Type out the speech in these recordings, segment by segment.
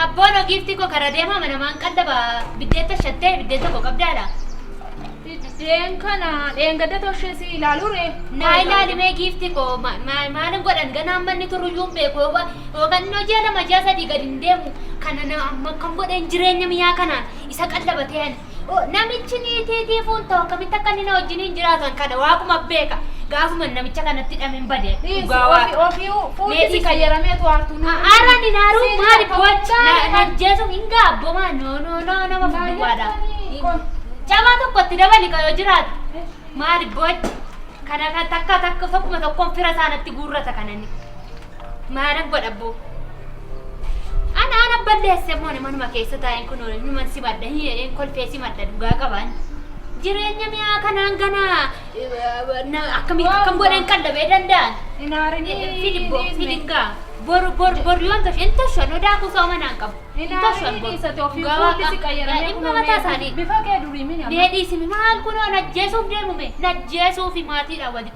Abboono giiftii koo karaa deemaa mana maan qallaba biddeetta shattee biddeen tokko qabdaa laa. Biddeen kana dheengadda toshee si ilaaluu ree. Naa ilaali mee giiftii koo ma- ma- maalin godhan ganaa amma inni turuyyuu hin beeku yoo yookaan inni hojii lama ji'a sadii gadi hin deemu kana na amma akkam godheen jireenya miyaa kanaan isa qallabatee ani Namichi niitii tiifuun ta'u akkamitti akka inni na wajjiniin jiraatan kana waaquma beeka. Gaafuma namicha kanatti hidhameen bade. Dhugaa waaqa. Ofii fuulli qayyaramee tu aartuu na. Haaraan hin haaruu maali boochi na jeesuun hin gaabbomaa no no no nama guddaadha. Cabaa tokko itti dabali ka yoo jiraatu. Maali boochi kana kan takka takka tokkuma tokkoon fira isaanatti guurrata kanani. Maaran godha abboo. Ana ana balleesse immoo ani manuma keessa taa'een kun numan si madda hin jedheen kolfee si madda dhugaa qabaan. Jireenya mi'aa kanaan gana eh, na- akkamitti akkam godheen qallabee danda'an. Hin aarinii. Fidi bo- Dhiisni. fidi gaa. Boru boru boru yoon toshe hin toshe nu daakuu sooma naan qabu. Hin Hin toshe aarinii dhiisate ofii Dhugaa fuulli waaqa. si qayyaramee Dhimma kunoo mataa mee- isaanii. Bifa kee durii mini amma. Mee dhiisimi maal kunoo najjeesuuf deemume najjeesuufi maatiidhaan walitti.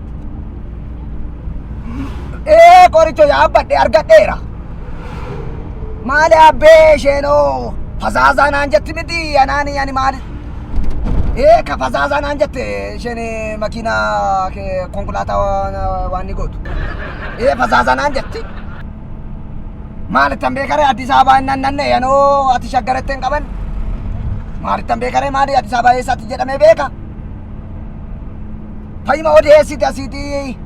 ee qoricho yaabbadhe argadheera maali abbee isheenoo fazaazaa naan jetti miti anaani ani maali ee ka fazaazaa naan jette isheen makiina ke- konkolaataa waan- waan ni gootu ee fazaazaa naan jetti maalittan beekare addis ababaa hin nannanne yanoo ati shaggaratti hin qaban maalittan beekare maali addis ababaa eessaatti jedhamee beeka Fayyuma odeessiti asiitii.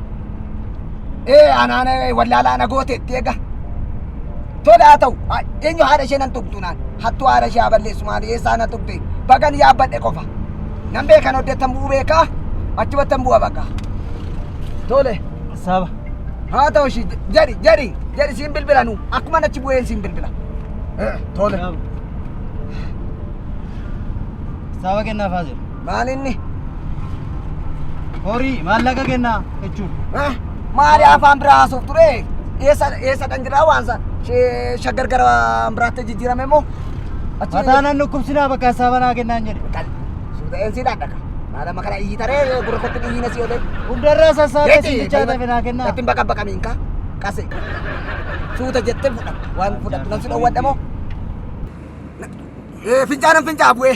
Ee anaan ee, wallaalaa na gooteetti egaa. Tola haa ta'u ha- eenyu haadha ishee nan tuqxu naan hattuu haadha ishee haa balleessu maali eessaa na tuqxe bagan yaabbadhe qofa. Nan beekan oddeettan bu'uu beekaa achumattan bu'a bakka. Tole. Saaba. haa ta'u ishii jedhi jedhi jedhi siin bilbila nu akkuma achi bu'een siin bilbila. Eh, Tole. Saaba kennaafaa jiru. Maal inni? Horii maallaqa kennaa jechuun. Ah, Maali afaan biraa haasoof ture? Eessa eessa kan jiraa waan san? Shee- Shaggar gara biraatti jijjiirame moo? Achi- Mataa nan dhukkubsinaa bakka isaa banaa kennaan jedhe. Kal. Suuta eensi dhaadhaka. Maal amma kana iyyi taree gurra kottu iyyi na si olee. Hundarraa sassaabee simbichaa ta'e naa kennaa. Nattin baqa baqa miinka. Qase. Suuta jettee fudhatta. Waan fudhattu nan si dhowwadha moo? Eh, Fincaanan fincaa bu'ee.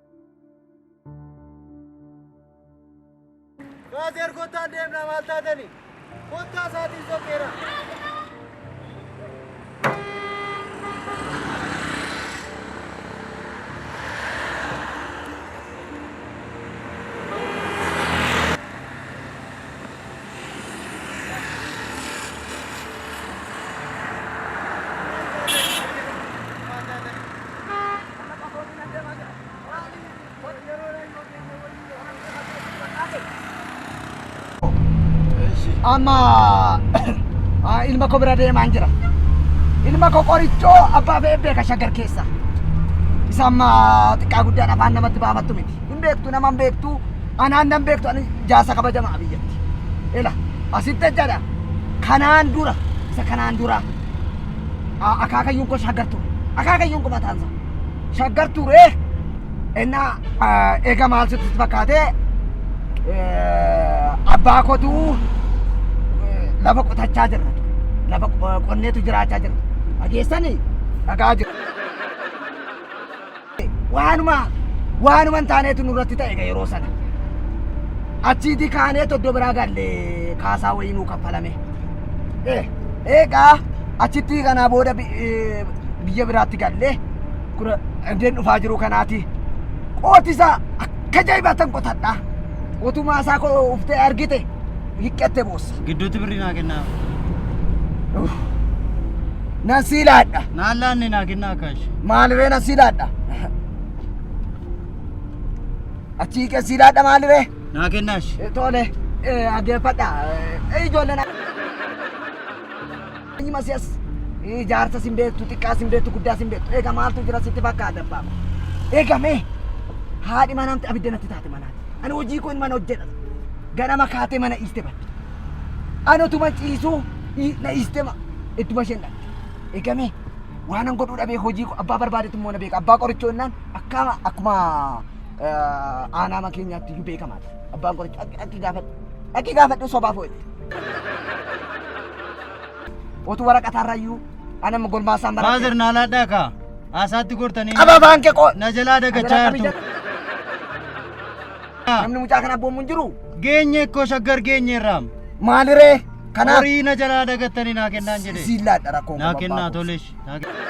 Baaseer kottaa deemnaa maal taatani? Kottaa isaatiin sokeera. amma ah, ilma koo bira deemaan jira. Ilma koo qorichoo abbaa fe'ee beeka shaggar keessa. Isa amma xiqqaa guddaan afaan namatti baafattu miti. hin beektu nama hin beektu anaan nan beektu ani jaarsa kabajamaa biyyatti ila asitti jechaadha kanaan dura isa kanaan dura a- akaakayyuun koo shaggar ture akaakayyuun koo mataan isaa shaggar ture ennaa ah, eega maal sitti fakkaatee eh, abbaa kotu eh, lafa qotachaa jirra lafa qo- qonneetu jiraachaa jirra dhageessanii dhagaa jiru waanuma waanuma hin taaneetu nurratti ta'e egaa yeroo sana achiiti kaanee toddo biraa galle kaasaa wayii nuu kaffalame Eh, egaa achitti kanaa booda bi- eh, biyya biraatti galle kura andeen dhufaa jiru kanaati qootisa akka jaibatan qotadha otumaa isaa koo uftee argite hiqqatte boossa Gidduutti birrii naa kennaa. Nan sii laadha. Naan laanne naa kennaa akkaash. Maaliree nan sii laadha. Achi hiiqee sii laadha maaliree? Naa kennaash. Tole, dhaggeeffadha. Ijoolleen Nyi masiyas eh, jaarsa sin beektu xiqqaa sin beektu guddaa sin beektu eega maaltu jira sitti fakkaata abbaa eega mee haadhi manaamti abidda natti taate manaati ani hojii koo mana hojjedha ganama kaatee mana dhiiste badde ani otuma ciisuu i- na dhiiste ma ittuma isheen dhaqxe eega mee waanan godhuu dhabee hojii koo abbaa barbaadetu immoo na beeka abbaa qorichoo innaan akkama akkuma eh, aanaama keenyaatti iyyuu beekamaadha abbaan qorichoo akki gaafadhu akki gaafadhu sobaaf hojjete Otu waraqataa irrayyuu anam gormaasaan baradhe. Faazar naa laadhaa kaa. Haasaatti gortanii. Qaba afaan kee qoo. Na jalaa dagachaa jirtu. Namni mucaa kana abboomu hin jiru. Geenye koo shaggar geenye irraam. Maaliree? Kanaaf. Horii na jalaa dagattanii naa kennaan jedhe. Siin laadha rakkoo. Naa kennaa tolesh. Naa kennaa.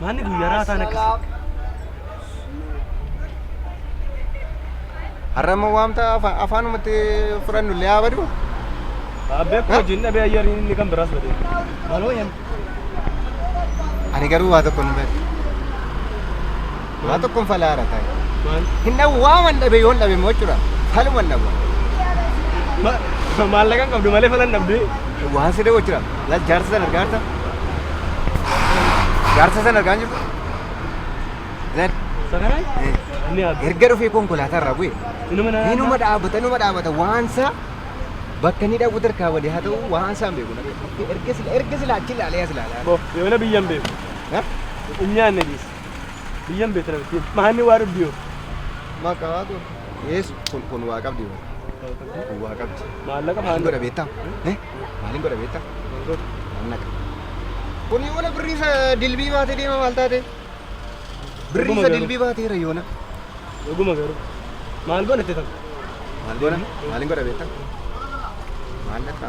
Maanni guyyaa raataan akkasii. Har'a immoo waamta afa- afaanumatti fudhannu illee haa badu. Abbee koo hojiin dhabee ayyariin inni kan biraas badee. Maloo yaa. Ani garuu waa tokko hin beeku. waa tokkon falaa irra taa'e hin dhabu waaman dhabe yoon dhabe immoo jechuudha faluman dhabu Maallaqan qabdu malee falan dhabdee. waan si dhabu jechuudha laal jaarsa sana argaa jirta jaarsa sana argaa jirta laal Sakanaa? eh, Inni haadha. erga dhufee konkolaataa irraa bu'e Inuma na. Inuma dhaabata, inuma dhaabata. Waansa bakka inni dhabu tarkaa walii haa ta'u waansa hin beeku. Erga sila erga sila achi ilaalee as ilaalaa. Bo, yoona biyyan beeku. Ha? Hin nyaanne dhiis. Biyyan beekta namitti. Maanni waa dhabdi yoo. Maka tu. Yes, kun kun waa qabdi yoo. Kun waa qabdi. Maallaqa Maalin godha beekta? Eh? Maalin godha beekta? Maallaqa. Kun yoona birriisa dilbii baatee deema maal taate? Birriisa garuu. dilbii baateera yoona. Dhuguma garuu. Maal godhatte tan? Maal godha? Maalin godha beekta? Maallaqa.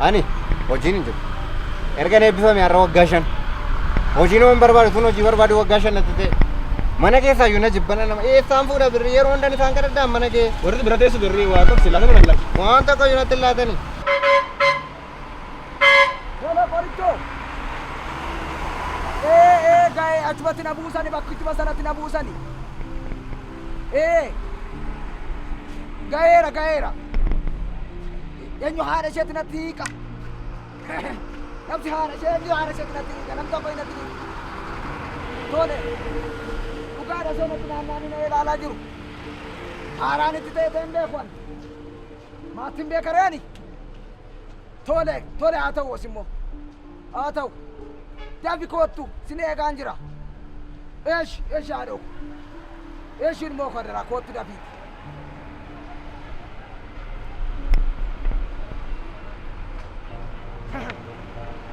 Ani hojiin hin jiru. Ergan eebbifame har'a waggaa shan. Hojiin waan barbaadu tun hojii barbaadu waggaa shan natti ta'e. Mana keessaa iyyuu na jibbana nama eessaan fuudha birrii yeroo hundan isaan kadhadhaan mana kee. Warri bira teessu birrii waan tokko si laatama lallaqa. Waan tokko iyyuu natti hin laatani. Wala qorichoo. Ee ee ga'ee achumatti na buusani bakkichuma sanatti na buusani. Ee ga'eera ga'eera. Eenyu haadha isheetti natti hiika? Namsi haadha ishee eenyu haadha isheetti natti hiika? Namsi abbaa natti hiika? Tole. Dhugaadha ishee natti naannaanii na ilaalaa jiru. Haaraan itti ta'e ta'e hin beeku ani. Maatiin beeka reeni? Tole, tole haa ta'u as immoo. Haa ta'u. Dafi koottu sin eegaan jira. Eesh, eesh haadhoo. Eesh ilmoo koo daraa koottu dafiiti.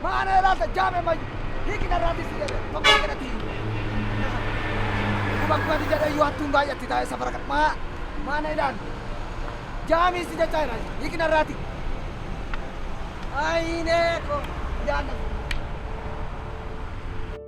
Maana laata jaame mayu hiiki narraatis ni dhabe tokko jedhati. Kuma kumati jedhe yoo hattuun baay'atti taa'e safara kan maa maana ilaali. Jaamii si jechaa ilaali hiiki narraati. Ayinee ko yaadna.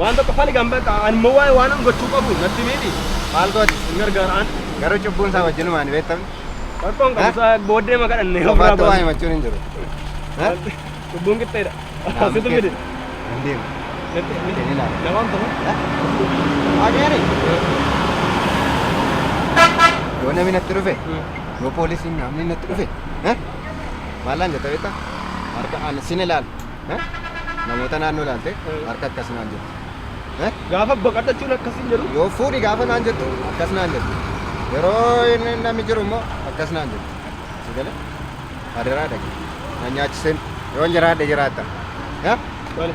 Waan tokko faligan bakka ani immoo waa'ee waan an gochuu qabu natti miiti. Maal gooti? Hin gargaaraan. Garuu cubbuun isaa wajjinumaa ni beektamne. Rakkoon qabu isaa booddee ma kadhanne. Qofaatti waa himachuun hin jiru. Ha? Cubbuun qixxeedha. Naamusa Situ keessa. fide. Hin deemu. Hin ilaalu. Namaan ta'u. Adeeri. Yoo namni natti dhufe, yoo poolisiin namni natti dhufe, eh? maalaan jetta beektaa? Harka ani sin ilaalu. Eh? Namoota naannoo ilaalte Eh. harka akkas naan jettu. Eh? Gaafa baqatachuun akkasiin jedhu. Yoo fuudhi gaafa naan jettu akkas naan jettu. Yeroo inni namni jiru immoo akkas naan jettu. Si galee? Adaraa dhaqe. Na nyaachiseen yoon jiraadhe jiraatta. Eh? Bale.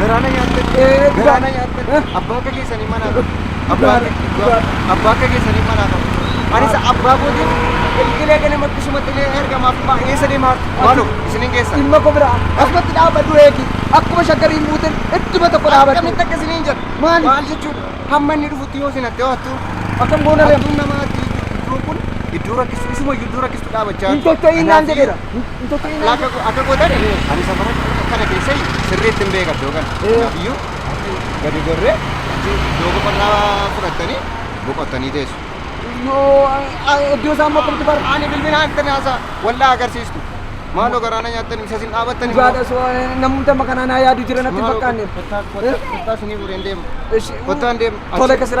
Garaana nyaatte. Garaana nyaatte. Abbaa akka keessanii manaa qabu. Abbaa abbaa akka keessanii manaa qabu. Anis abbaa kootiin ilqilee kana makkisuma xilee ergamaaf maa eessa deemaaf maaloo isinin geessa. Dhimma koo biraa akkatti dhaabadhu eegi. Akkuma shaggariin buuteen idduma tokko dhaabadhu. Akkamitti akka isiniin jedhu. Maali? Maal jechuudha? Hamma inni dhufutti yoo isin hattee hattuu. Akkam goona reema. Hattuun namaatti iddoon kun iddoo rakkistu isuma iddoo rakkistu dhaabachaa. Hin socho'iin naan jedheera. Hin tokkinii naan Akka akka gootan ani safara kana keessa sirriitti hin beekan iddoo kana. Ee. Kanaafiyyuu gadi gorree achi iddoo boqonnaa fudhattanii boqottanii teessu. yoo iddoo isaa immoo akkamitti bara. Ani bilbila hanqina haasaa waldaa agarsiistu. Maaloo garaana nyaattan isa sin dhaabattan immoo. Dhugaadha soo namumti amma kanaa naa yaadu jira natti hin Maaloo fakkaanne. kottaa kottaa kottaa sinii fuudheen deema. Ishi- Kottaan deema. Tole Achi- kasira.